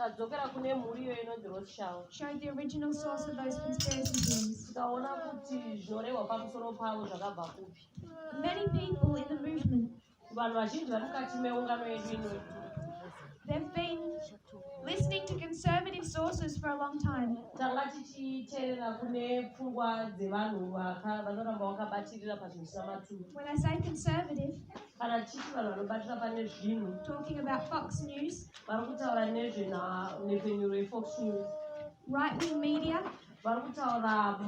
tadzokera kune mhuri iyo inonzi rothschild showed the original source of those conspiracy theories tikaona kuti zvinorehwa pamusoro pavo zvakabva kupi many people in the movement kuvanhu vazhinji vari mukati meungano yedu inoyi They've been listening to conservative sources for a long time. Tanga tichiterera kune pfungwa dzevanhu vanoramba vakabatirira pazvinhu zvisina maturo. When I say conservative, kana tichiti vanhu vanobatira pane zvinhu, talking about Fox News, vari kutaura nezvenhau nezvenyuro yeFox News, right wing media, vari kutaura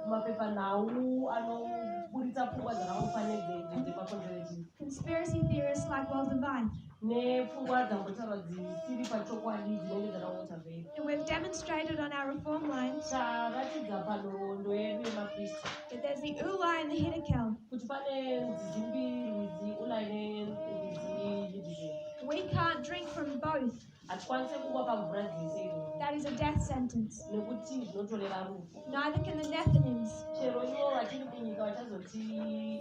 mapepanhau anoburitsa pfungwa dzakangofa nedzemakonzerati conspiracy theorists like well divine nepfungwa dzambotaura dzisiri pachokwadi dzinenge dzakangota vei and we've demonstrated on our reform line taratidza panhoroondo yedu yemakrista that there's the ula and the hidekel kuti pane nzizi mbiri rwizi ula ine nzizi we can't drink from both hatikwanise kuva pamvura dzese iroo that is a death sentence nekuti zvinotoreva rufu neither can the nethinims chero ivo vatiri kunyika vachazoti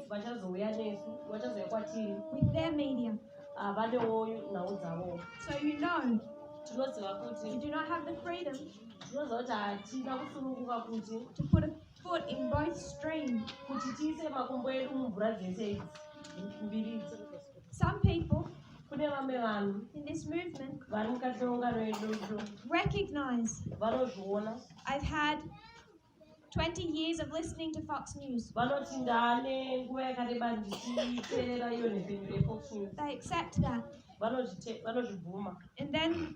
vachazouya nesu vachazouya kwatiri with their media havanewo nhau dzavo so you know tinoziva kuti we do not have the freedom tinoziva kuti hatina kusununguka kuti to put a Food in both strain kuti tiise makumbo edu mumvura dzese idzi mbiri idzi. Some people kune vamwe vanhu in this movement vari mukati meungano yedu idzo recognize vanozviona I've had 20 years of listening to Fox News. Vanoti ndane nguva yakareba ndichiteerera iyo nhepfenyuro yeFox News. They accept that. Vanozvibvuma. And then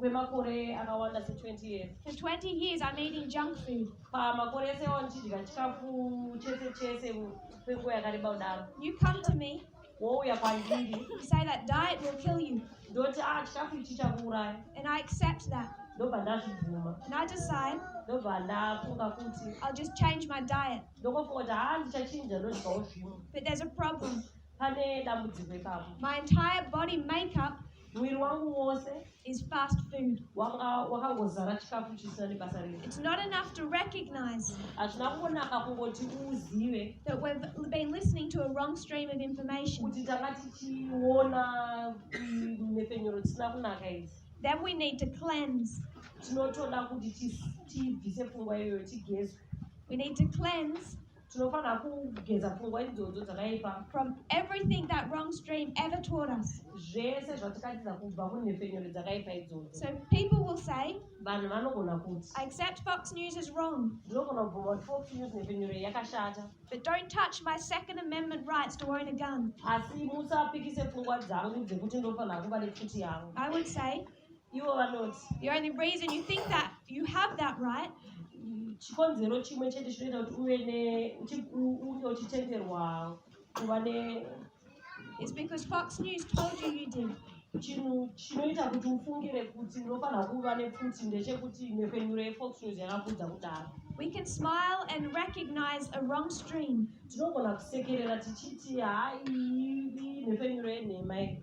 kwemakore akawanda se 20 years for 20 years i'm eating junk food pamakore ese awa ndichidya chikafu chese chese kwenguva yakareba kudaro you come to me wouya kwandiri you say that diet will kill you ndoti ah chikafu ichi chakuuraya and i accept that ndobva ndazvibvuma and i decide ndobva ndafunga kuti i'll just change my diet ndokofunga kuti haa ah, ndichachinja ndodyawo zvimwe but there's a problem pane dambudziko ipapo my entire body makeup mwiri wangu wose is fast food wanga wakangozara chikafu chisina nebasa rei it's not enough to recognize hazvina kungonaka kungoti uzive that we've been listening to a wrong stream of information kuti tanga tichiona mhepfenyuro dzisina kunaka idzi then we need to cleanse tinotoda kuti tibvise pfungwa iyoyo tigezwe we need to cleanse tinofanira kugeza pfungwa idzodzo dzakaipa from everything that wrong stream ever taught us zvese zvatikatiza kubva kunhepfenyuro dzakaipa idzodzo so people will say vanhu vanogona kuti i accept fox news is wrong ndinogona kubvuma kuti fox news nhepfenyuro yakashata but don't touch my second amendment rights to own a gun asi musapikise pfungwa dzangu dzekuti ndofanira kuva nepfuti yangu i would say ivo vanoti you're in a race and you think that you have that right chikonzero chimwe chete chinoita kuti uve ne unge uchitenderwa kuva ne is because fox news told you you did chinhu chinoita kuti ufungire kuti unofanira kuva nepfuti ndechekuti nhepfenyuro yefox news yakakuudza kudaro We can smile and recognize a wrong stream. tinogona kusekerera tichiti hayi nhepfenyuro yenhema iyi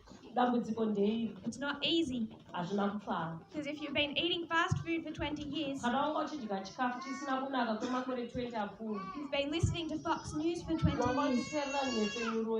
dambudziko ndeiri it's not easy hazvina kupfava because if you've been eating fast food for 20 years kana wanga uchidya chikafu chisina kunaka kwemakore 20 apfuura you've been listening to fox news for 20 years wanga uchiterera nhepfenyuro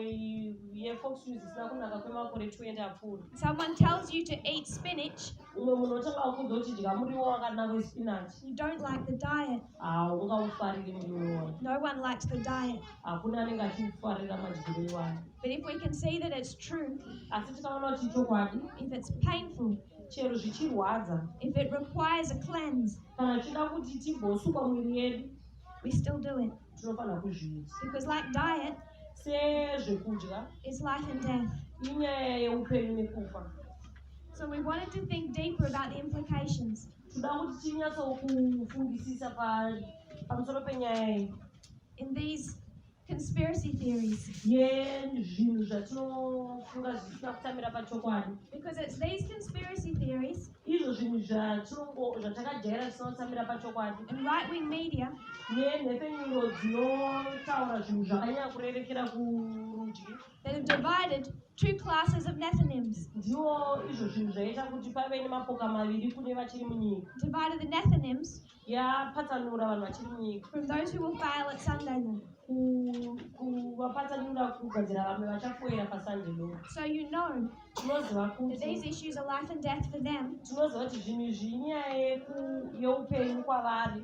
yefox news isina kunaka kwemakore 20 apfuura someone tells you to eat spinach umwe munhu otanga kukuudza uchidya muriwo wakanaka wespinach you don't like the diet haungaufariri muriwo iwoyo No one likes the diet. hakuna anenge achiufarira madyiro iwayo But if we can see that it's true, asi tikaona kuti ichokwadi if it's painful, chero zvichirwadza if it requires a cleanse, kana tichida kuti timbosukwa mwiri yedu we still do it. tinofanira kuzviita Because, like diet, sezvekudya it's life and death. inyaya yeupenyu nekufa So, we wanted to think deeper about the implications. toda kuti tinyatsokufungisisa pamusoro penyaya iyi in these conspiracy theories yezvinhu zvatinofunga zvisina kutamira pachokwadi because it's these conspiracy theories izvo zvinhu zvatinongo zvatakajaira zvisina kutamira pachokwadi and right wing media nenhepfenyuro dzinotaura zvinhu zvakanyanya kurerekera kurudyi They have divided two classes of Nethinims. Ndiwo izvo zvinhu zvaita kuti pave nemapoka maviri kune vachiri munyika. Divided the Nethinims. Yapatsanura vanhu vachiri munyika. From those who will fail at Sunday night. kuvapatsanura kugadzira vamwe vachafoira pasande lo so you know tinoziva kuti these issues are life and death for them tinoziva kuti zvinhu izvi inyaya yeupenyu kwavari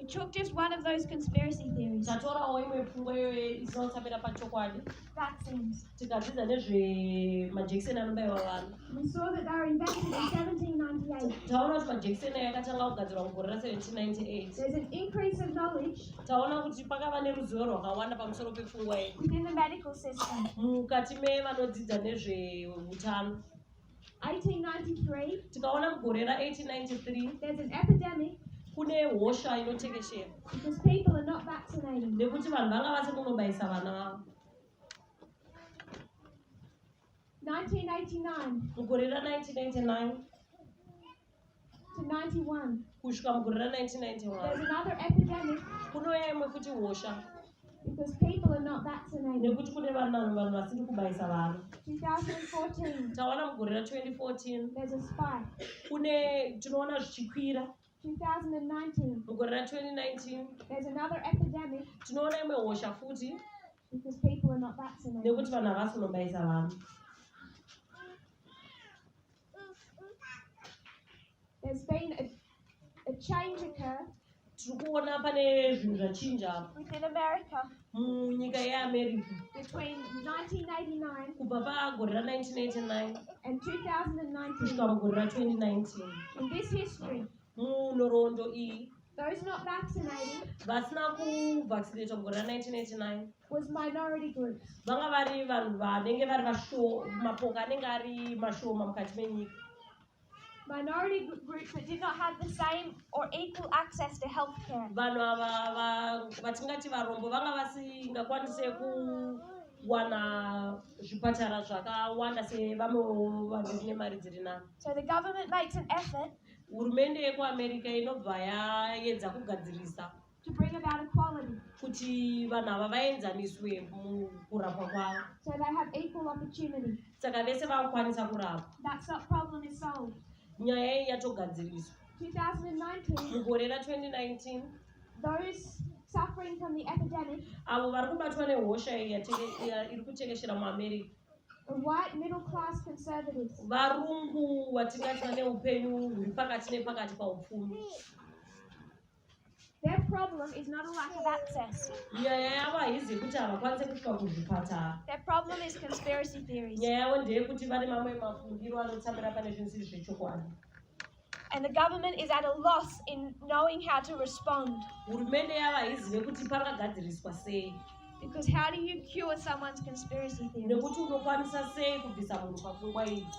We took just one of those conspiracy theories. Tatorawo imwe pfungwa iyo inotsamira pachokwadi. Vaccines. Tikadzidza nezve majekiseni anobaiwa vanhu. We saw that they were invented in 1798. Taona kuti majekiseni aya akatanga kugadzirwa mugore ra 1798. There's an increase of knowledge. Taona kuti pakava neruzivo rwakawanda pamusoro pepfungwa iyi. Within the medical system. Mukati mevanodzidza nezveutano. 1893 tikaona mugore ra 1893 there's an epidemic kune hosha inotekeshera because people are not vaccinating nekuti vanhu vanga vasi kunobayisa vana vavo 1999 mugore ra 1999 kusvika mugore ra 1991 kunouya imwe futi hosha Because people are not vaccinated. nekuti kune vanhu vanhu vasiri kubayisa vana 2014, tawana mugore ra 2014 there's a spike. kune tinoona zvichikwira 2019, mugore ra 2019 there's another epidemic tinoona imwe hosha futi because people are not vaccinated. nekuti vanhu havasi kunobayisa vana There's been a, a change occurred tiri kuona pane zvinhu zvachinja within America munyika yeamerica between 1989 kubva pagore ra 1989 and 2019 kusvika mugore ra 2019 in this history munhoroondo iyi those not vaccinated vasina kuvaccinatwa mugore ra 1989 was minority groups. Vanga vari vanhu vanenge vari vasho mapoka anenge ari mashoma mukati menyika. Minority groups that did not have the same or equal access to health care. Vanhu ava vatingati varombo vanga vasingakwanise kuwana zvipatara zvakawanda sevamwewo vanhu vine mari dziri nani. So the government makes an effort. Hurumende yekuAmerica inobva yaedza kugadzirisa to bring about equality kuti vanhu ava vaenzaniswe mukurapwa kwavo so they have equal opportunity saka vese vakukwanisa kurapwa that problem is solved nyaya iyi yatogadziriswa 2019 mugore ra 2019 those suffering from the epidemic avo vari kubatwa nehosha iyi iri kutekeshera muamerica white middle class conservatives varungu vatingati vane upenyu huri pakati nepakati paupfumi Their problem is not a lack of access. nyaya yavo haizi yekuti havakwanise kusvika kuzvipatara Their problem is conspiracy theories. nyaya yavo ndeyekuti vane mamwe mafungiro anotsamira pane zvinhu zviri zvechokwadi And the government is at a loss in knowing how to respond. hurumende yavo haizive kuti pangagadziriswa sei Because how do you cure someone's conspiracy theories? nekuti unokwanisa sei kubvisa munhu pafungwa idzi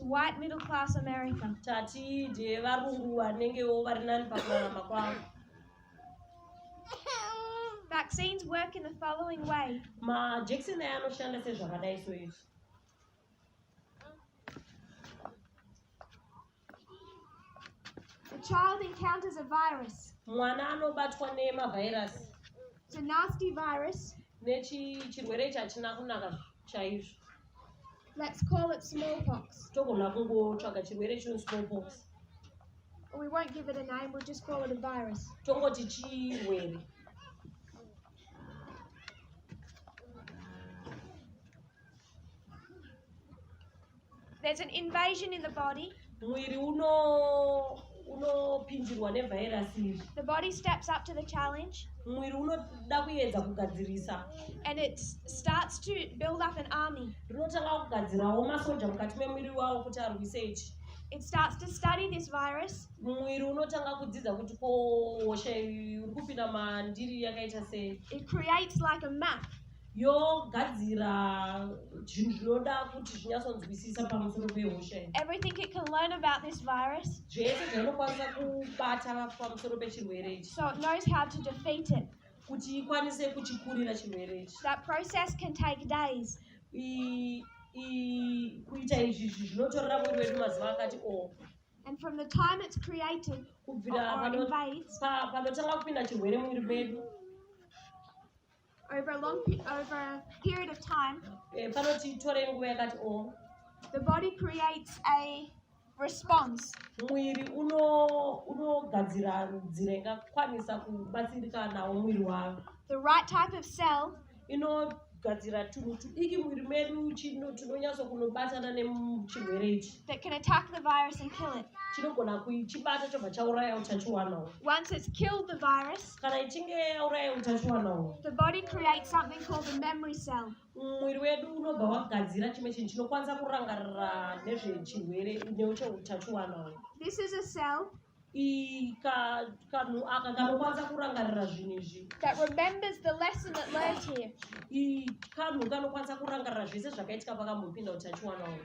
white middle class america tati ndevarungu vanengewo vari nani pakurarama kwavo vaccines work in the following way majekiseni aya anoshanda sezvakadai so izvi The child encounters a virus. Mwana anobatwa nemavhairasi. It's a nasty virus. Nechirwere ichi hachina kunaka chaizvo. Let's call it smallpox. Togona kungotsvaga chirwere chino smallpox. We won't give it a name, we'll just call it a virus. Tongoti chirwere. There's an invasion in the body. Mwiri uno unopindirwa nevirus iri. The body steps up to the challenge. Mwiri unoda kuedza kugadzirisa. And it starts to build up an army. Rinotanga kugadzirawo masoja mukati memwiri wawo kuti arwise ichi. It starts to study this virus. Mwiri unotanga kudzidza kuti ko hosha iri kupinda mandiri yakaita sei. It creates like a map. yogadzira zvinhu zvinoda kuti zvinyatsonzwisisa pamusoro pehosha everything it can learn about this virus zvese zvainokwanisa kubata pamusoro pechirwere ichi so it knows how to defeat it kuti ikwanise kuchikurira chirwere ichi that process can take days kuita izvi zvinotorera mwiri wedu mazuva akati o oh. And from the time it's created, kubvira panotanga kupinda chirwere mumwiri medu over a long over a period of time eh, the body creates a response mwiri unogadzira nzira ingakwanisa kubatsirika nawo mwiri wavo the right type of cell inogadzira tunhu tudiki mwiri medu tunonyatso kunobatana nechirwere ichi that can attack the virus and kill it chinogona kuchibata chobva chauraya utachiwanawo once it's killed the virus kana ichinge yauraya utachiwana uhwu The body creates something called a memory cell. mwiri wedu unobva wagadzira chimwe chinhu chinokwanisa kurangarira nezvechirwere necheutachiwana uhwu This is a cell I- ka- kanhu aka kanokwanisa kurangarira zvinhu izvi that remembers the lesson it learned here. I- kanhu kanokwanisa kurangarira zvese zvakaitika pakambopinda utachiwana uhwu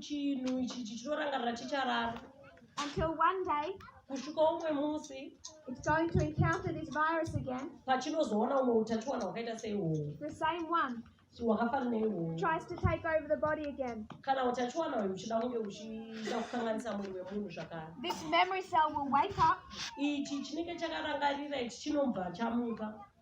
chinhu ichi chichitorangarira chicharara until one day kusvika umwe musi it's going to encounter this virus again pachinozoona umwe utachiwana hwakaita seihwohwo the same one hwakafanana ihwohwo tries to take over the body again kana utachiwana uyu uchida kunge uchida kukanganisa muviri wemunhu zvakare this memory cell will wake up ichi chinenge chakarangarira ichi chinobva chamuka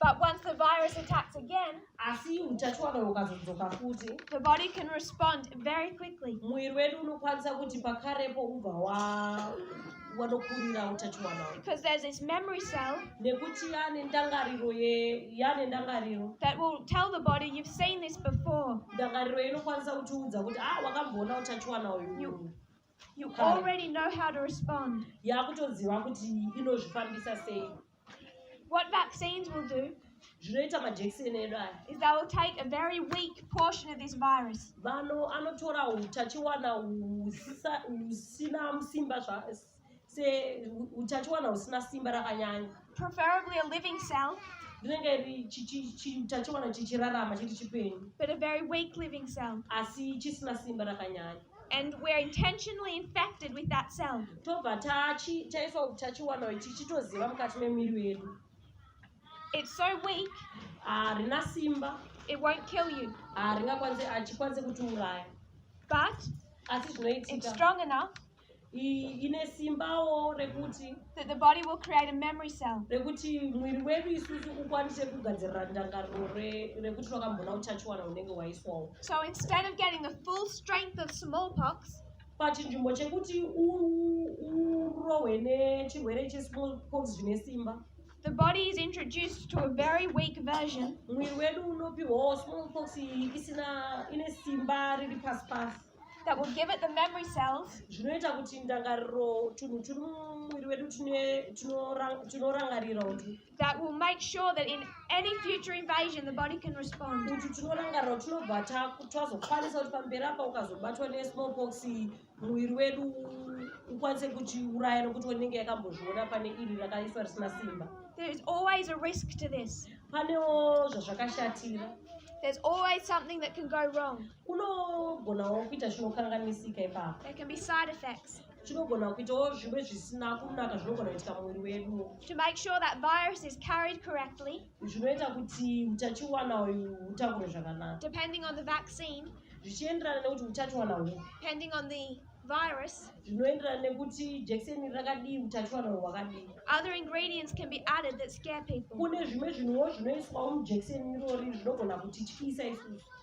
But once the virus attacks again, asi utachiwana hukazodzoka futi the body can respond very quickly. muviri wedu unokwanisa kuti pakarepo ubva wa- wanokurira utachiwana hwu. Because there's this memory cell nekuti yane ndangariro ye- yane ndangariro that will tell the body, you've seen this before. ndangariro inokwanisa kutiudza kuti ah wakamboona utachiwana uyu You- You already know how to respond. Yakutoziva kuti inozvifambisa sei. What vaccines will do zvinoita majekiseni edu aya is they will take a very weak portion of this virus vano anotora utachiwana husina simba seutachiwana husina simba rakanyanya preferably a living cell rinenge utachiwana chichirarama chiri chipenyu but a very weak living cell asi chisina simba rakanyanya and we're intentionally infected with that cell tobva taiswa utachiwana ichi chitoziva mukati memiri wedu it's so weak harina ah, simba it won't kill you haringakwanise ah, achikwanise ah, kutiuraya but asi zvinoitika it's strong enough ine simbawo rekuti that the body will create a memory cell rekuti mwiri wedu isusu ukwanise kugadzirira ndangariro rekuti rwakambona utachiwana unenge waiswawo so instead of getting the full strength of smallpox pachinzvimbo chekuti urohwe nechirwere chesmallpox zvine simba The body is introduced to a very weak version. Mwiri wedu unopiwawo smallpox isina ine simba riri pasi pasi. that will give it the memory cells zvinoita kuti ndangariro tunhu turi mumwiri wedu tinorangarira utu that will make sure that in any future invasion the body can respond kuti tinorangarira kuti tinobva tazokwanisa kuti pamberi apa ukazobatwa nesmallpox muviri wedu ukwanise kuchiuraya nokuti wenenge yakambozviona pane iri rakaiswa risina simba there is always a risk to this panewo zvazvakashatira There's always something that can go wrong. kunogonawo kuita zvinokanganisika ipapo chinogona kuitawo zvimwe zvisina kunaka zvinogona kuitika muviri wedu to make sure that virus is carried correctly zvinoita kuti utachiwana uyu hutambure zvakanaka depending on the vaccine zvichienderana nekuti utachiwana huu depending on the virus zvinoenderana nekuti jekiseni rakadii utachiwana huu hwakadii other ingredients can be added that scare people kune zvimwe zvinhuwo zvinoiswawo mujekiseni irori zvinogona kutityisa isusu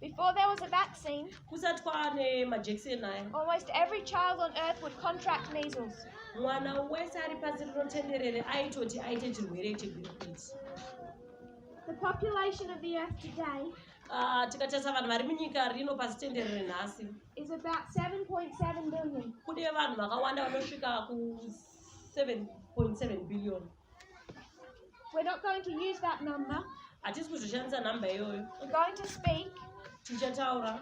Before there was a vaccine, almost every child on earth would contract measles. mwana wese ari pasi rino tenderere aitoti aite chirwere chegwirikwiti The population of the earth today ah, tikatarisa vanhu vari munyika rino pasi tenderere nhasi is about 7.7 billion. kune vanhu vakawanda vanosvika ku 7.7 billion We're not going to use that number. Hatisi kuzoshandisa number iyoyo. We're going to speak. Tichataura.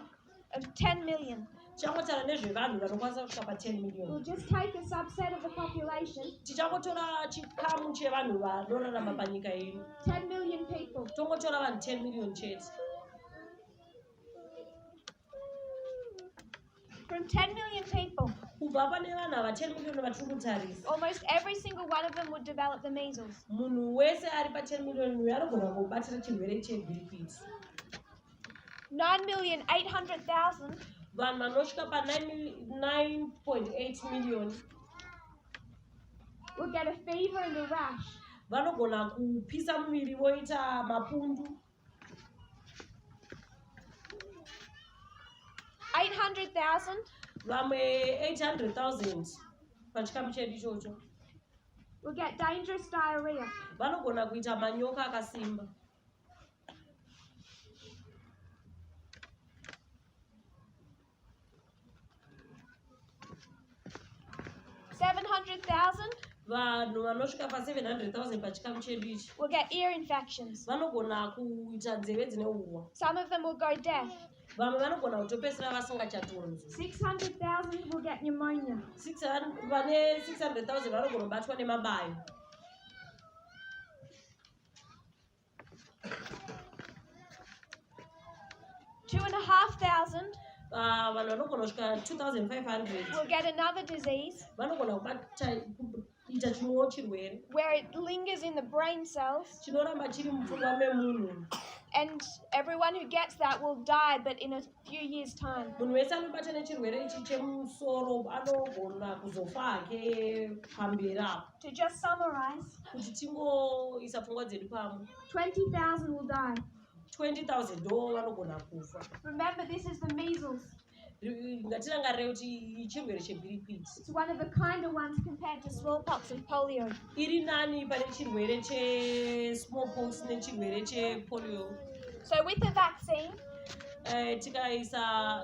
Of 10 million. Tichakotara nezvevanhu vanokwanisa kusvika pa 10 million. We'll just take a subset of the population. Tichakotora chikamu chevanhu vanorarama panyika ino. 10 million people. Tongotora vanhu 10 million chete. From 10 million people. Kubva pane vanhu ava 10 million vatiri kutarisa. Almost every single one of them would develop the measles. Munhu wese ari pa 10 million uyu anogona kubatira chirwere chegwirikwiti. 9 million 800,000. Vanhu vanosvika pa 9.8 million. Will get a fever and a rash. Vanogona kupisa muviri voita mapundu. 800,000 vamwe 800,000 pachikamu chedu ichocho will get dangerous diarrhea vanogona kuita manyoka akasimba 700,000 vanhu vanosvika pa 700,000 pachikamu chedu ichi will get ear infections. vanogona kuita nzeve dzine uwa Some of them will go deaf. vamwe vanogona kutopedzisira vasingachatonzwi 600,000 will get pneumonia. 600 vane 600,000 vanogona kubatwa nemabayo Two and a half thousand. Ah, vanhu vanogona kusvika 2500 will get another disease vanogona kubata kuita chimwewo chirwere where it lingers in the brain cells chinoramba chiri mupfungwa memunhu and everyone who gets that will die but in a few years time munhu wese anobata nechirwere ichi chemusoro anogona kuzofa hake pamberi apo To just summarize, kuti tingoisa pfungwa dzedu pamwe 20,000 will die. 20,000 ndo vanogona kufa Remember, this is the measles. Ri- ngatirangarire kuti chirwere chegwirikwiti It's one of the kinder ones compared to smallpox and polio. iri nani pane chirwere chesmallpox nechirwere chepolio So, with the vaccine, Eh, tikaisa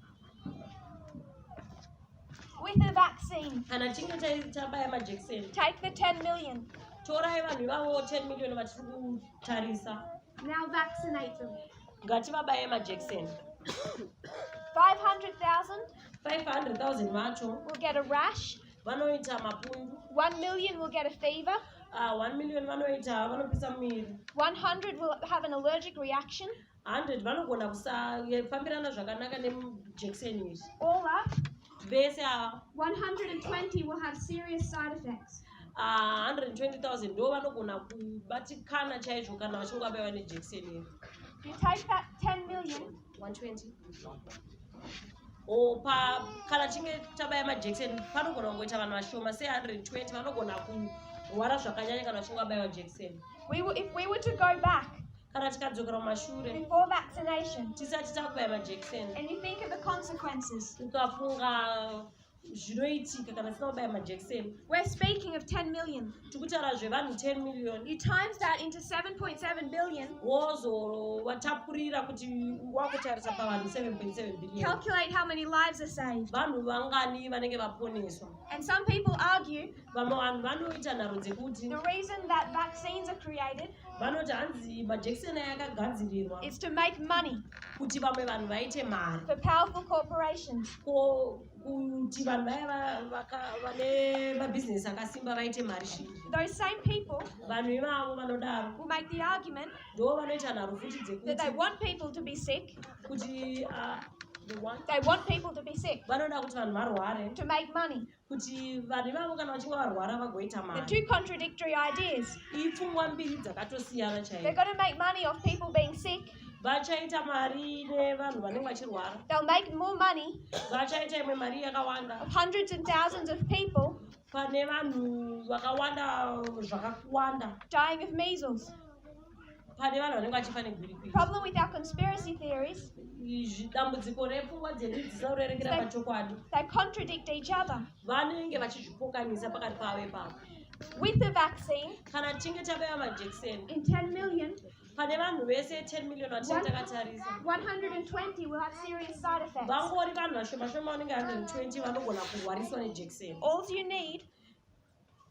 With the vaccine. Kana tichinge tabaya majekiseni. Take the 10 million. Torai vanhu ivavo 10 million vatiri kutarisa. Now vaccinate them. Ngativabaye majekiseni. 500,000. 500,000 vacho. We'll get a rash. Vanoita mapundu. 1 million will get a fever. Uh, ah, 1 million vanoita vanopisa muviri. 100 will have an allergic reaction. 100 vanogona kusafambirana zvakanaka nemujekiseni iri Over vese ava 120 will have serious side effects. ah, 120000 ndo vanogona kubatikana chaizvo kana vachinge vabaiwa nejekiseni iri If you take that 10 million 120 or pa kana chinge tabaya majekiseni panogona kungoita vanhu vashoma se 120 vanogona kurwara zvakanyanya kana vachinge vabaiwa jekiseni we will, if we were to go back kana tikadzokera kumashure tisati takubaya majekiseni ukafunga zvinoitika kana tisina kubaya majekiseni we're speaking of 10 million tikutaura zvevanhu 10 million you times that into 7.7 billion wozowatapurira kuti wakutarisa pavanhu 7.7 billion calculate how many lives are saved vanhu vangani vanenge vaponeswa and some people argue vamwe vanhu vanoita nharo dzekuti the reason that vaccines are created vanoti hanzi majekiseni aya akagadzirirwa is to make money kuti vamwe vanhu vaite mari for powerful corporations ko kuti vanhu vaya vane mabhizinesi akasimba vaite mari shi those same people vanhu ivavo vanodaro who make the argument ndo vanoita nharo futi dzekuti that they want people to be sick kuti uh, They want people to be sick. Vanoda kuti vanhu varware. To make money. kuti vanhu ivavo kana vachinge varwara vagoita mari two contradictory ideas ipfungwa mbiri dzakatosiyana chaiyo they're going to make money of people being sick vachaita mari nevanhu vanenge vachirwara they'll make more money vachaita imwe mari yakawanda of hundreds and thousands of people pane vanhu vakawanda zvakawanda dying of measles pane vanhu vanenge vachifa negwirikwiri problem with our conspiracy theories izvi dambudziko repfungwa dzedu dzisarerekera pachokwadi they contradict each other vanenge vachizvipokanisa pakati pavo ipapo with the vaccine kana tichinge tabaya majekiseni in 10 million pane vanhu vese 10 million vatinge takatarisa 120 will have serious side effects vangori vanhu vashomashoma vanenge 120 vanogona kurwariswa nejekiseni all you need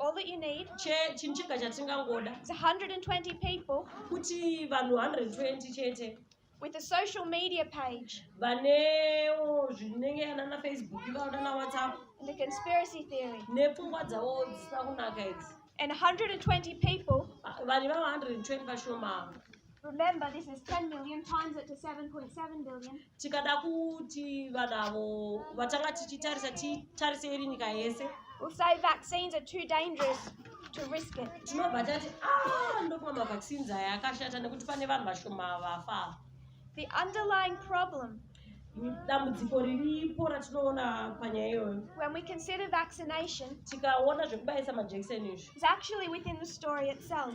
All that you need. Che chinhu chega chatingangoda. It's 120 people. Kuti vanhu 120 chete. With a social media page. Vanewo zvinenge ana na Facebook vaona na WhatsApp. And the conspiracy theory. Nepfungwa dzavo dzisina kunaka idzi. And 120 people. Vanhu vava 120 vashoma. Remember, this is 10 million times it to 7.7 billion. tikada kuti vanhu avo vatanga tichitarisa titarise iri nyika yese We'll say vaccines are too dangerous to risk it. tinobva tati "Ah, ndofunga mavaccines aya akashata nekuti pane vanhu vashoma vafa ava." The underlying problem dambudziko riripo ratinoona panyaya iyoyo when we consider vaccination tikaona zvekubayisa majekiseni izvi is actually within the story itself.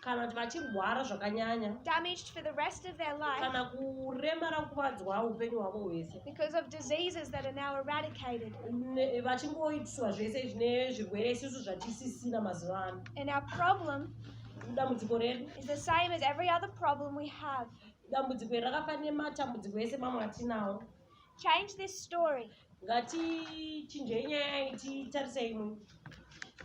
kana kuti vachirwara zvakanyanya damaged for the rest of their life kana kuremara kuvadzwa upenyu hwavo hwese because of diseases that are now eradicated vachingoitiswa zvese zvine zvirwere isusu zvatisisina mazuva ano and our problem dambudziko redu is the same as every other problem we have dambudziko iri rakafanira nematambudziko ese mamwe atinawo Change this story. ngatichinjei nyaya iyi titarise imwe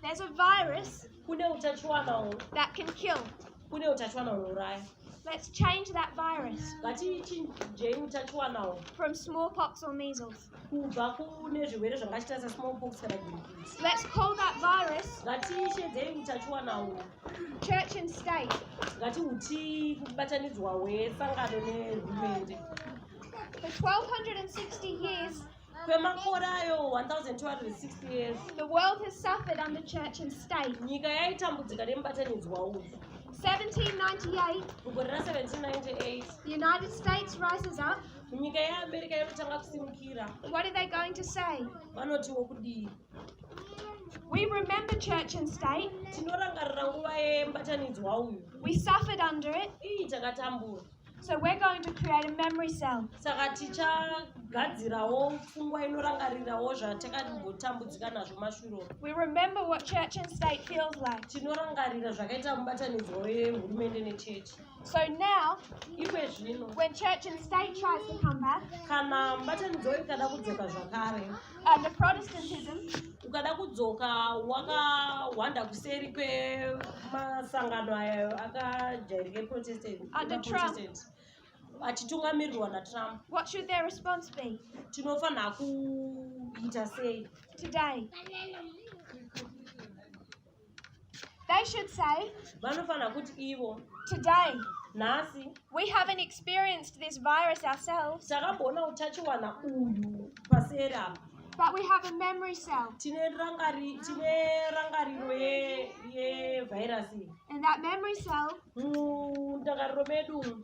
There's a virus kune utachiwana hwo that can kill. kune utachiwana hunouraya Let's change that virus ngatichinjei utachiwana hwo from smallpox or measles. kubva kune zvirwere zvangachita sesmallpox kana gurikisi Let's call that virus ngatishedzei utachiwana hwo church and state. ngatihuti kubatanidzwa hwesangano nehurumende For 1260 years, kwemakore ayo 1260 years the world has suffered under church and state. nyika yaitambudzika nemubatanidzwa uyu 1798, mugore ra 1798 the United States rises up. nyika yeamerica inotanga kusimukira What are they going to say? vanotiwo kudii We remember church and state. tinorangarira nguva yemubatanidzwa uyu We suffered under it. iyi takatambura So we're going to create a memory cell. Saka tichagadzirawo pfungwa inorangarirawo zvatakadimbotambudzika nazvo mashuro. We remember what church and state feels like. Tinorangarira zvakaita mubatanidzwa wehurumende nechechi. So now, when church and state tries to come back, kana mubatanidzwa ikada kudzoka zvakare and protestantism ukada kudzoka wakahwanda kuseri kwemasangano ayo akajairika eprotestant achitungamirirwa natrump what should their response be tinofanira kuita sei today They should say, vanofanira kuti ivo Today, nhasi we haven't experienced this virus ourselves, takamboona utachiwana uyu paseri apa but we have a memory cell. tine rangari- tine rangariro ye- yevhairasi iyi And that memory cell mundangariro medu umu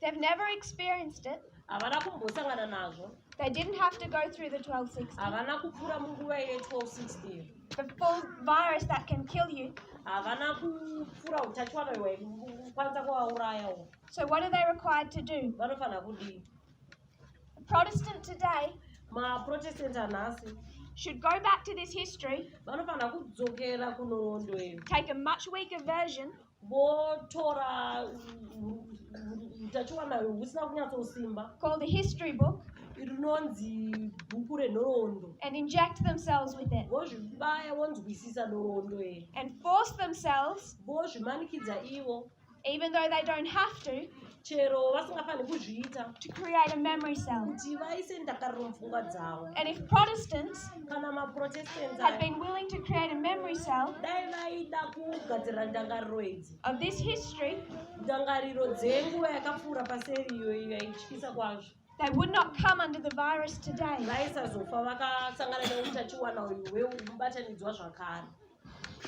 They've never experienced it. havana kumbosangana nazvo They didn't have to go through the 1260, havana kupfuura munguva ye 1260 the full virus that can kill you. havana kupfuura utachiwana hwekwanisa kuvauraya uhu So, what are they required to do? vanofanira kudii A Protestant today maprotestant anhasi should go back to this history, vanofanira kudzokera kunhondo iyo take a much weaker version, votora utachiwana husina kunyatsosimba called the history book rinonzi bhuku renhoroondo and inject themselves with it vozvibaya vonzwisisa nhoroondo iri and force themselves vozvimanikidza ivo even though they don't have to chero vasingafaniri kuzviita to create a memory cell. kuti vaise ndakariro mupfungwa dzavo And if Protestants kana maprotestants had aya been willing to create a memory cell dai vaida kugadzirira ndangariro idzi of this history, ndangariro dzenguva yakapfuura paseri iyo iyo yaityisa kwazvo they would not come under the virus today. vaisazofa vakasangana neutachiwana uyu hweubatanidzwa zvakare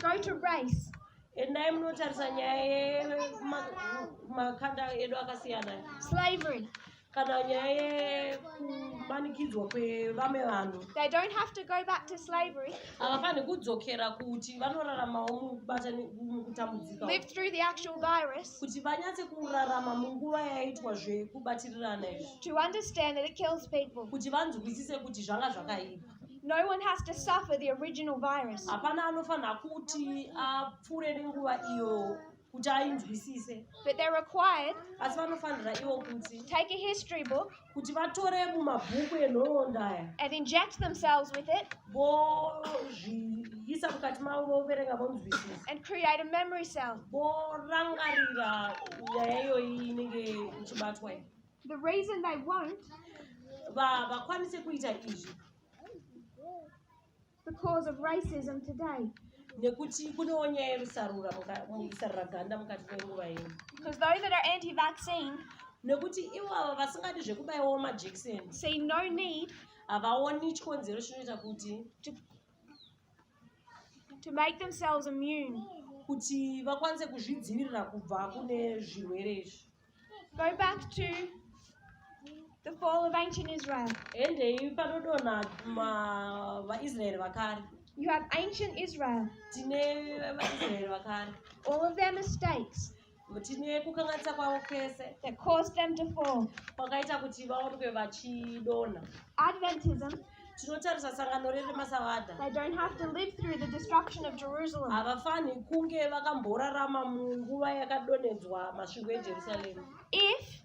Go to race. endai munotarisa nyaya yemakanda edu akasiyana slavery kana nyaya yekumanikidzwa kwevamwe vanhu they don't have to go back to slavery havafanhi kudzokera kuti vanoraramawo mukutambudzika live through the actual virus kuti vanyatse kurarama munguva yaitwa zvekubatirirana izvi to understand that it kills people kuti vanzwisise kuti zvanga zvakaipa No one has to suffer the original virus. Hapana anofanira kuti apfure nenguva iyo kuti ainzwisise. But they're required. Asi vanofanira ivo kuti. Take a history book. Kuti vatore mumabhuku enhoroondo aya. And inject themselves with it. Vozviisa mukati mavo voverenga vonzwisisa. And create a memory cell. Vorangarira nyaya iyoyi inenge ichibatwa iyi. The reason they won't vakwanise kuita izvi because of racism today nekuti kunewo nyaya yerusarura musarura ganda mukati menguva ino because those that are anti vaccine nekuti ivavo vasingadi zvekubaiwawo majekiseni say no need havaoni chikonzero chinoita kuti to make themselves immune kuti vakwanise kuzvidzivirira kubva kune zvirwere izvi Go back to the fall of ancient Israel. Endei panodonha vaIsraeri vakare. You have ancient Israel. Tine vaIsraeri vakare. All of their mistakes. Tine kukanganisa kwavo kwese. That caused them to fall. Kwakaita kuti vaonekwe vachidonha. Adventism. tinotarisa sangano riri masavadha havafanhi kunge vakamborarama munguva yakadonhedzwa masvingo ejerusarema if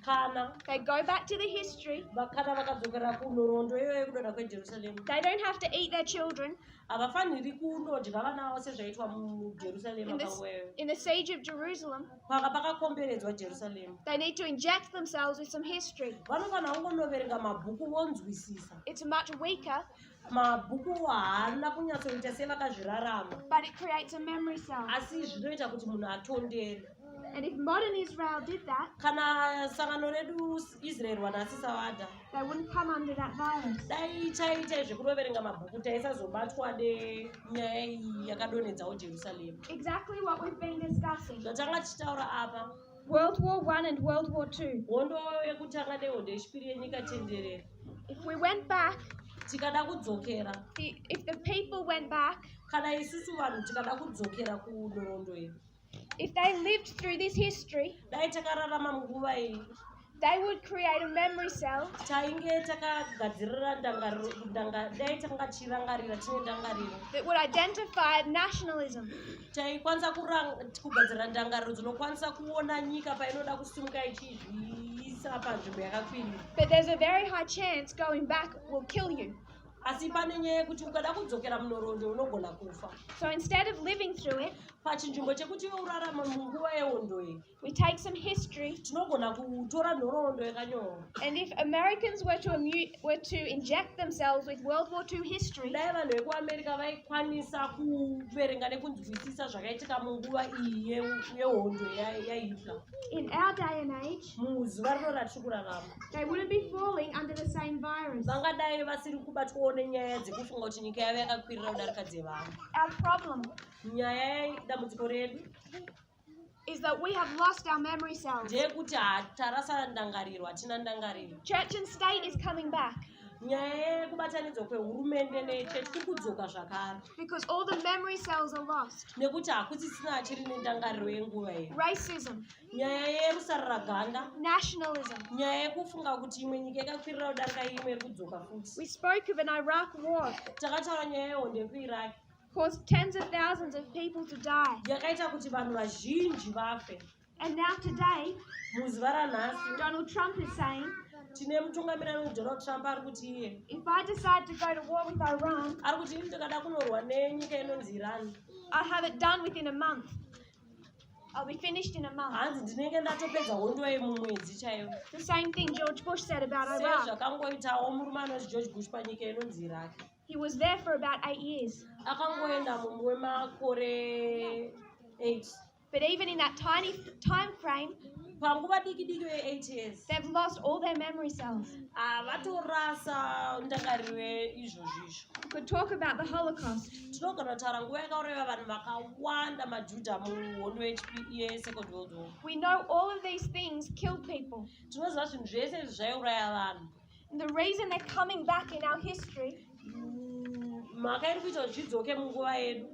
kana they go back to the history vakana vakadzokera kunhoroondo iyoyo yekudonha kwejerusarema they don't have to eat their children havafaniri kunodya vana vavo sezvaitwa mujerusarema in the siege of jerusalem paka pakakomberedzwa jerusalema they need to inject themselves with some history vanofanira kungonoverenga mabhuku vonzwisisa it's much weaker mabhuku haana kunyatsoita sevakazvirarama but it creates a memory cell asi zvinoita kuti munhu atondere and if modern israel did that kana sangano redu israel wanasisa vada dai taiita zvekuroverenga mabhuku taisazobatwa nenyaya iyi yakadonhedzawo jerusaremu zvatanga tichitaura apa world war one and world war two hondo yekutanga nehondo yechipiri yenyika tenderera if we went back tikada kudzokera if the people went back kana isusu vanhu tikada kudzokera kunhoroondo iyi If they lived through this history, dai takararama munguva iyi they would create a memory cell tainge takagadzirira ndangariro dai tanga tichirangarira tine ndangariro that would identify nationalism taikwanisa kugadzirira ndangariro dzinokwanisa kuona nyika painoda kusimuka ichizviisa panzvimbo yakakwirira but there's a very high chance going back will kill you asi pane nyaya yekuti ukada kudzokera munhoroondo unogona kufa so instead of living through it pachinzvimbo chekuti iwe urarama munguva yehondo iyi we take some history tinogona kutora nhoroondo yakanyorwa and if americans were to, were to inject themselves with world war ii history dai vanhu vekuamerica vaikwanisa kuverenga nekunzwisisa zvakaitika munguva iyi yehondo yahitler in our day and age muzuva rino ratiri kurarama they wouldn't be falling under the same virus vangadai vasiri kubatwawo nenyaya dzekufunga kuti nyika yave yakakwirira kudarika dzevamwe our problem nyaya yedambudziko redu is that we have lost our memory cells. ndeyekuti tarasa ndangariro hatina ndangariro church and state is coming back nyaya yekubatanidzwa kwehurumende nechechi kuri kudzoka zvakare because all the memory cells are lost nekuti hakusisina achiri nendangariro yenguva iyi racism nyaya yerusarura ganda nationalism nyaya yekufunga kuti imwe nyika yakakwirira kudarika imwe iri kudzoka futi we spoke of an iraq war takataura nyaya yehondo yekuiraq caused tens of thousands of people to die yakaita kuti vanhu vazhinji vafe and now today muzuva ranhasi donald trump is saying tine mutungamiri anonzi donald trump ari kuti iye if i decide to go to war with iran ari kuti ini ndikada kunorwa nenyika inonzi iran i have it done within a month I'll be finished in a month. hanzi ndinenge ndatopedza hondo yemumwedzi chaiyo The same thing George Bush said about Iraq. sezvakangoitawo murume anonzi george bush panyika inonzi iraki He was there for about eight years. akangoenda mumwe wemakore 8 But even in that tiny f- time frame, panguva diki diki ve eight years they've lost all their memory cells havatorasa ah, ndangariro izvozvo izvo could talk about the holocaust tinogona kutaura nguva yakauraiva vanhu vakawanda majudha muhondo yesecond e, world war we know all of these things killed people tinoziva zvinhu zvese izvi zvaiuraya vanhu And the reason they're coming back in our history mhaka iri kuita kuti zvidzoke munguva yedu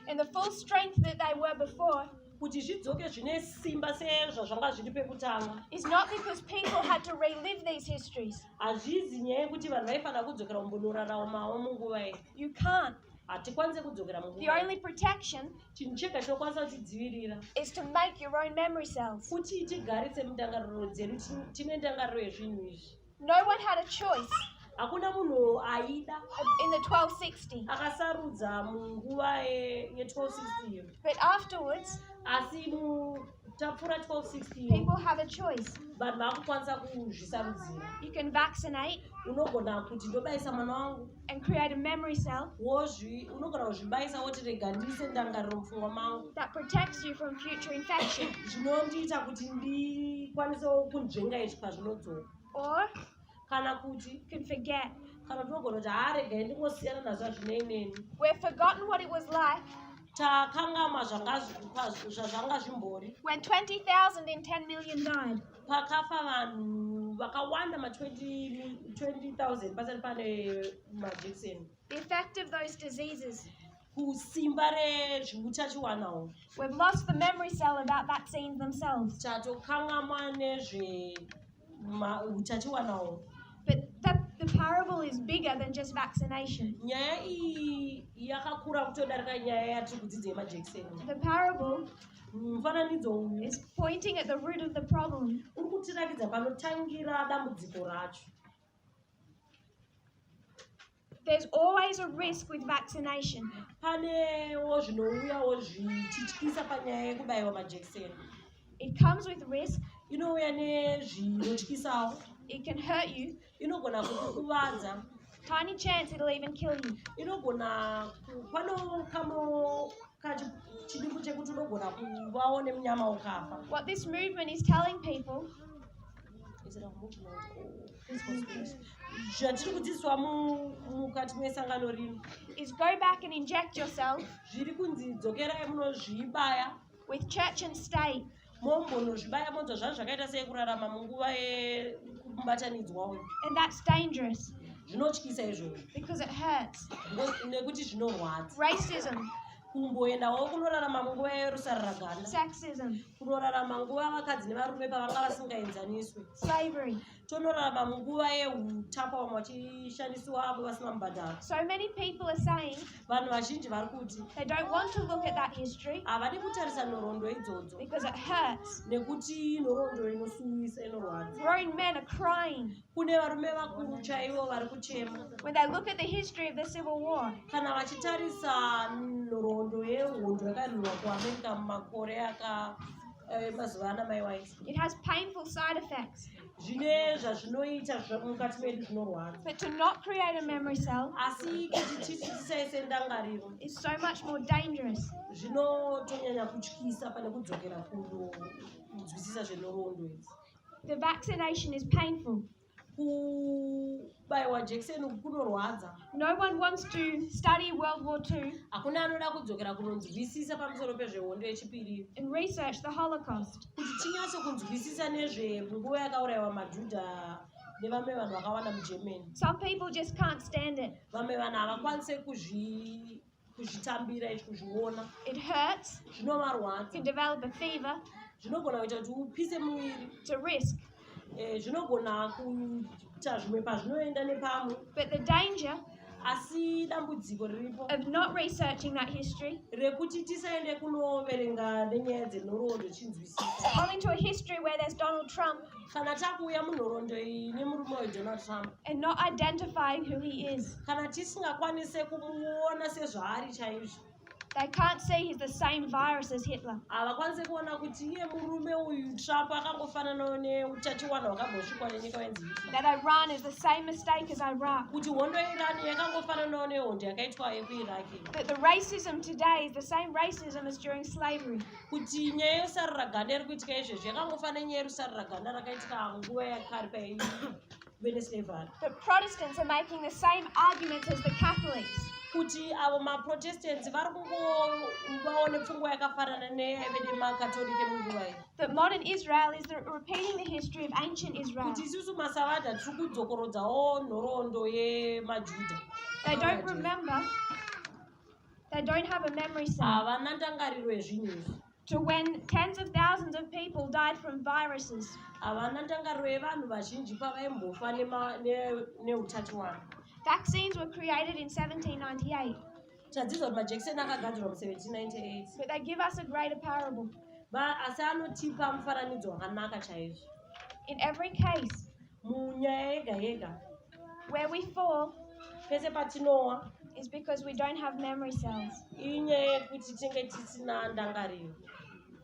and the full strength that they were before kuti zvidzoke zvine simba sezvazvanga zviri pekutanga is not because people had to relive these histories hazvizi nyaya yekuti vanhu vaifanira kudzokera kumbonoraramawo munguva iyi you can't hatikwanise kudzokera munguva the only protection chinhu chega chinokwanisa kutidzivirira is to make your own memory cells kuti tigaritse mundangariro dzedu tine ndangariro yezvinhu izvi no one had a choice hakuna munhu aida in the 1260 akasarudza munguva ye1260 but afterwards asi mu tapfura 1260 people have a choice vanhu vakukwanisa kuzvisarudzira you can vaccinate unogona kuti ndobayisa mwana wangu and create a memory cell wozvi unogona kuzvibayisa woti rega ndiise ndangariro mupfungwa mangu that protects you from future infection zvinondiita kuti ndikwanisewo kunzvenga izvi pazvinodzoka or kana kuti can forget kana tinogona kuti haaregai ndingosiyana nazvo hazvinei neni we have forgotten what it was like takangamwa zvazvanga zvimbori when 20000 and 10 million died pakafa vanhu vakawanda ma 20000 pasati pane majekiseni the effect of those diseases kusimba rezveutachiwana uhu We've lost the memory cell about vaccines themselves. tatokangamwa nezveutachiwana uhu But the, the parable is bigger than just vaccination. nyaya iyi yakakura kutodarika nyaya yatiri kudzidza yemajekiseni The parable mufananidzo uyu is pointing at the root of the problem. uri kutiratidza panotangira dambudziko racho There's always a risk with vaccination. Panewo zvinouyawo zvichityisa panyaya yekubaiwa majekiseni. It comes with risk. Inouya nezvinotyisawo. It can hurt you. Inogona kukuvadza. Tiny chance it'll even kill you. Inogona pano kamo kachidiku chekuti unogona kuvawo nemunyama ukafa. What this movement is telling people zvatiri kudzidziswa mukati mesangano rino is go back and inject yourself zviri kunzi dzokerai munozvibaya with church and state mombonozvibaya monzwa zvazvo zvakaita sei kurarama munguva yekubatanidzwa uyu and that's dangerous zvinotyisa izvozvo because it hurts nekuti zvinorwadza racism kumboendawo kunorarama munguva yerusaruragana sexism kunorarama nguva vakadzi nevarume pavanga vasingaenzaniswe slavery tonorarama munguva yeutapa vamwe vachishandisiwa avo vasina mubhadharo so many people are saying vanhu vazhinji vari kuti they don't want to look at that history havadi kutarisa nhoroondo idzodzo because it hurts nekuti nhoroondo inosuwisa inorwadza grown men are crying kune varume vakuru chaivo vari kuchema when they look at the history of the civil war kana vachitarisa nhoroondo yehondo yakarwirwa kuamerica mumakore aka eh, mazuva ana mai wise it has painful side effects zvine zvazvinoita mukati medu zvinorwadza but to not create a memory cell asi kuti titi tisaise ndangariro is so much more dangerous zvinotonyanya kutyisa pane kudzokera kunonzwisisa zvenhoroondo idzi The vaccination is painful. kubaiwa jekiseni uku kunorwadza No one wants to study World War II hakuna anoda kudzokera kunonzwisisa pamusoro pezvehondo yechipiri and research the Holocaust. kuti tinyatse kunzwisisa nezvenguva yakaurayiwa majudha nevamwe vanhu vakawanda mugermany Some people just can't stand it. vamwe vanhu havakwanise kuzvi kuzvitambira izvi kuzviona it hurts zvinovarwadza to develop a fever zvinogona kuita kuti upise muviri to risk eh, zvinogona kuita zvimwe pazvinoenda nepamwe but the danger asi dambudziko riripo of not researching that history rekuti tisaende kunoverenga nenyaya dzenhoroondo chinzwisisa only to a history where there's donald trump kana takuuya munhorondo iyi nemurume uyu donald trump and not identifying who he is kana tisingakwanise kumuona sezvaari chaizvo They can't see he's the same virus as Hitler. Havakwanise kuona kuti iye murume uyu Trump akangofananawo neutachiwana hwakambosvikwa nenyika yenzi Hitler. That Iran is the same mistake as Iraq. Kuti hondo yeIran yakangofananawo nehondo yakaitwa yekuIraq. That the racism today is the same racism as during slavery. kuti nyaya yosaruraganda iri kuitika izvezvi yakangofa nenyaya yerusaruraganda rakaitika nguva yakari pai wednesday vhari the protestants are making the same arguments as the catholics kuti avo maprotestants vari kungovawo nepfungwa yakafanana nevede makatolike munguva iyi the modern israel is repeating the history of ancient israel kuti isusu masavadha tiri kudzokorodzawo nhoroondo yemajuda they don't remember They don't have a memory cell. Havana ndangariro yezvinhu izvi. To when tens of thousands of people died from viruses. Havana ndangariro yevanhu vazhinji pavaimbofa neutachiwana. Vaccines were created in 1798. Tadzidza kuti majekiseni akagadzirwa mu 1798. But they give us a greater parable. Asi anotipa mufananidzo wakanaka chaizvo. In every case. munyaya yega yega where we fall pese patinowa is because we don't have memory cells inyaya yekuti tinge tisina ndangariro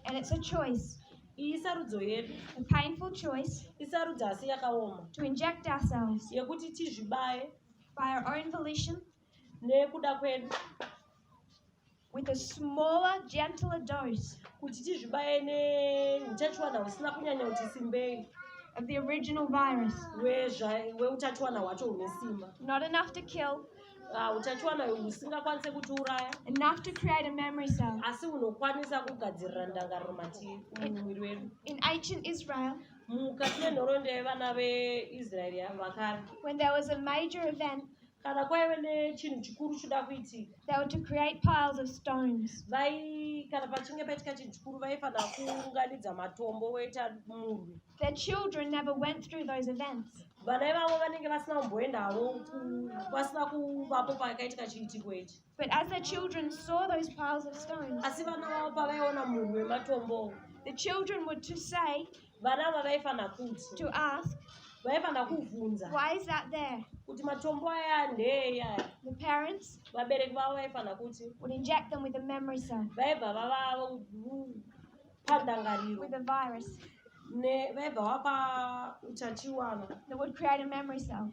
and it's a choice iyi sarudzo yedu a painful choice isarudzo asi yakaoma to inject ourselves yekuti tizvibaye by our own volition nekuda kwedu with a smaller gentler dose kuti tizvibaye neutachiwana husina kunyanya kuti simbei of the original virus hweutachiwana hwacho hune simba not enough to kill ah, utachiwana husingakwanise kutiuraya enough to create a memory cell asi hunokwanisa kugadzirira ndangariro matiri mumuviri wedu in ancient israel mukati menhoroondo yevana veisraeri vakare when there was a major event kana kwaive nechinhu chikuru choda kuitika they were to create piles of stones vai kana pachinge paitika chinhu chikuru vaifanira kuunganidza matombo voita murwi the children never went through those events vana ivavo vanenge vasina kumboenda havo vasina kuvapo pakaitika chiitiko ichi But as the children saw those piles of stones, asi vana vavo pavaiona munhu wematombo the children would to say vana ava vaifanira kuti to ask, vaifanira kuvhunza why is that there? kuti matombo aya ndeeyi aya The parents vabereki vavo vaifanira kuti would inject them with a memory cell, vaibva vavavo pandangariro with a virus. ne- vaibva vapa utachiwana They would create a memory cell.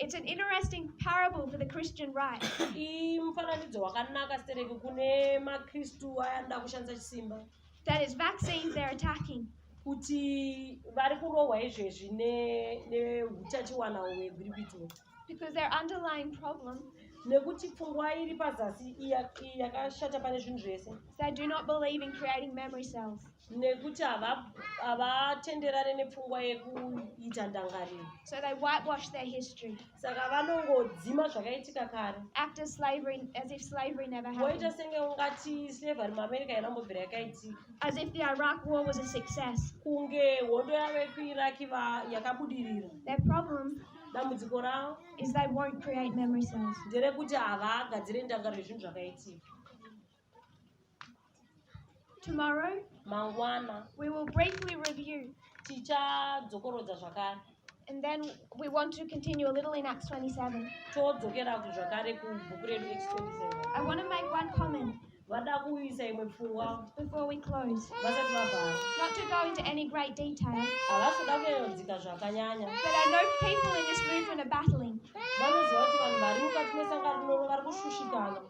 It's an interesting parable for the Christian right. That is vaccines they're attacking. kuti vari kurohwa izvezvi neutachiwana hwegwirikwitiro because their underlying problem nekuti pfungwa iri pazasi yakashata pane zvinhu zvese they do not believe in creating memory cells nekuti havatenderane nepfungwa yekuita ndangariro so they whitewash their history saka vanongodzima zvakaitika kare after slavery as if slavery never happened voita senge ungati slavery muamerica yanambobvira yakaitika as if the iraq war was a success kunge hondo yave kuiraki yakabudirira the problem dambudziko ravo is they won't create memory cells nderekuti havagadzire ndangariro yezvinhu zvakaitika Tomorrow, mangwana, we will briefly review. tichadzokorodza zvakare And then we want to continue a little in Acts 27. todzokera ku- zvakare kubhuku redu Acts 27 I want to make one comment vada kuisa imwe pfungwa before we close. vasati vavhara Not to go into any great detail, havasi kuda kuyodzika zvakanyanya but I know people in this movement are battling. vanoziva kuti vanhu vari mukati mesangano rinoro vari kushushikana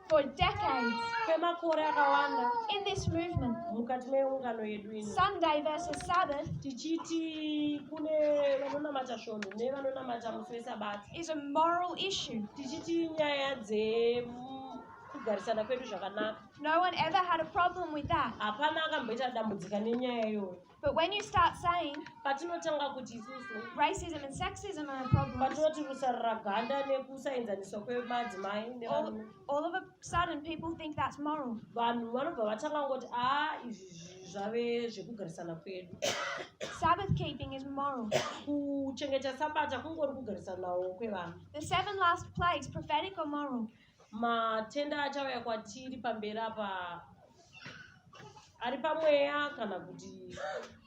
for decades kwemakore akawanda in this movement mukati meungano yedu ino sunday versus sabbath tichiti kune vanonamata svondo nevanonamata musi wesabata is a moral issue tichiti nyaya dze kugarisana kwedu zvakanaka no one ever had a problem with that hapana akamboita dambudzika nenyaya iyoyo But when you start saying patinotanga kuti isusu racism and sexism are problems, patinoti rusarura ganda nekusaenzaniswa kwemadzimai nevanhu, all of a sudden people think that's moral. Vanhu vanobva vatanga ngoti ah izvi zvave zvekugarisana kwedu. Sabbath keeping is moral. Kuchengeta sabata kungori kugarisanawo kwevanhu. The seven last plagues prophetic or moral? matenda achauya kwatiri pamberi apa ari pamweya kana kuti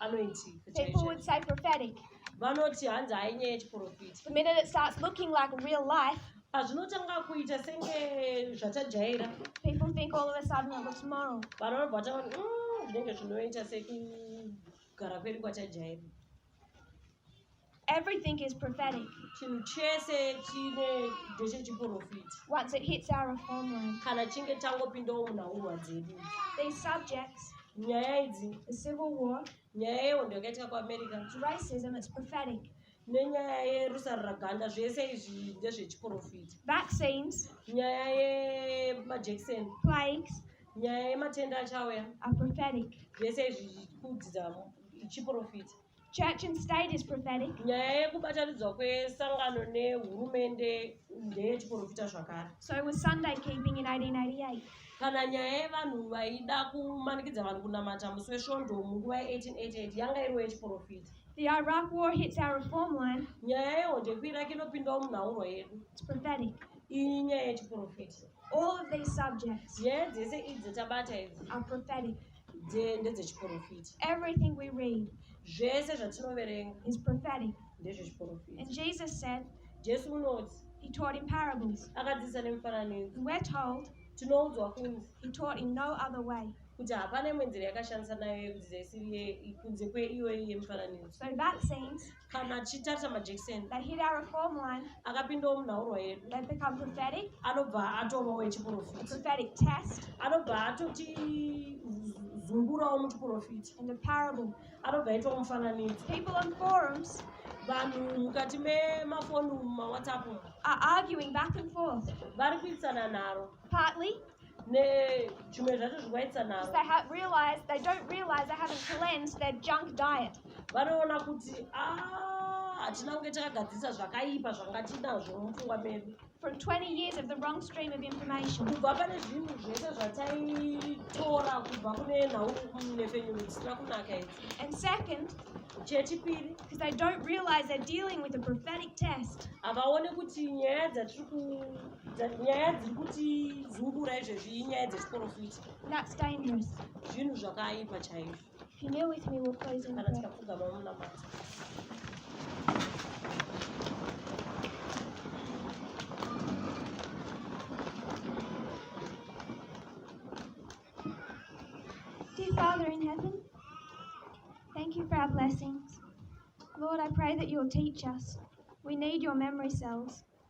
anoiti vanoti hanzi hainyaya yechiprofiti pazvinotanga kuita senge zvatajaira vanobva taona mm, zvinenge zvinoita sekugara kwedu kwatajaira Everything is prophetic. Chinhu chese chine ndechechiporofita. Once it hits our homeland. Kana chinge tangopindawo munhauhwa dzedu. These subjects. Nyaya idzi. The civil war. Nyaya yehondo yakaitika kuAmerica. Racism is prophetic. nenyaya yerusaruraganda zvese izvi ndezvechiporofita vaccines nyaya yemajekiseni plagues nyaya yematenda achauya aprophetic zvese izvi kudzidza chiprofita Church and state is prophetic. nyaya yekubatanidzwa kwesangano nehurumende ndeyechiprofita zvakare So was Sunday keeping in 1888. kana nyaya yevanhu vaida kumanikidza vanhu kunamata musi wesvondo munguva ye1888 yanga iriwo yechiprofita The Iraq war hits our reform line. nyaya yehondo yekuiraki inopindawo munhaurwa yedu It's prophetic. iyi nyaya yechiprofita All of these subjects nyaya dzese idzi tabata idzi are prophetic. ndedzechiporofiti everything we read zvese zvatinoverenga is prophetic ndezvechiporofiti and jesus said jesu unoti he taught in parables akadzidzisa nemifananidzo we're told tinoudzwa kunzi he taught in no other way kuti hapana imwe nzira yakashandisa nayo yekudzidzisa isiri kunze kweiyoyi yemifananidzo so that says kana achitarisa majekiseni that hit our form line akapindawo munhaurwa yedu that become prophetic anobva atovawo echiprofita prophetic test anobva atoti zungurawo muchiprofita in the parable anobva aitawo mufananidzo people on forums vanhu mukati memafoni mumawhatsapp are arguing back and forth vari kuitsana nharo partly nezvimwe zvacho zvikuvaitisa navo they have realized they don't realize they haven't cleansed their junk diet vanoona kuti ah, hatina kunge takagadzirisa zvakaipa zvanga tinazvo mupfungwa medu from 20 years of the wrong stream of information kubva pane zvinhu zvese zvataitora kubva kune nhau nefenyuro dzisina kunaka idzi and second chechipiri because they don't realize they're dealing with a prophetic test havaone kuti nyaya dzatiri nyaya dziri kuti zungura izvezvi inyaya dzechiporofiti zvinhu zvakaipa chaizvo kana tikapfugama munamata Dear Father in heaven, thank you for our blessings. Lord, I pray that you'll teach us. We need your memory cells.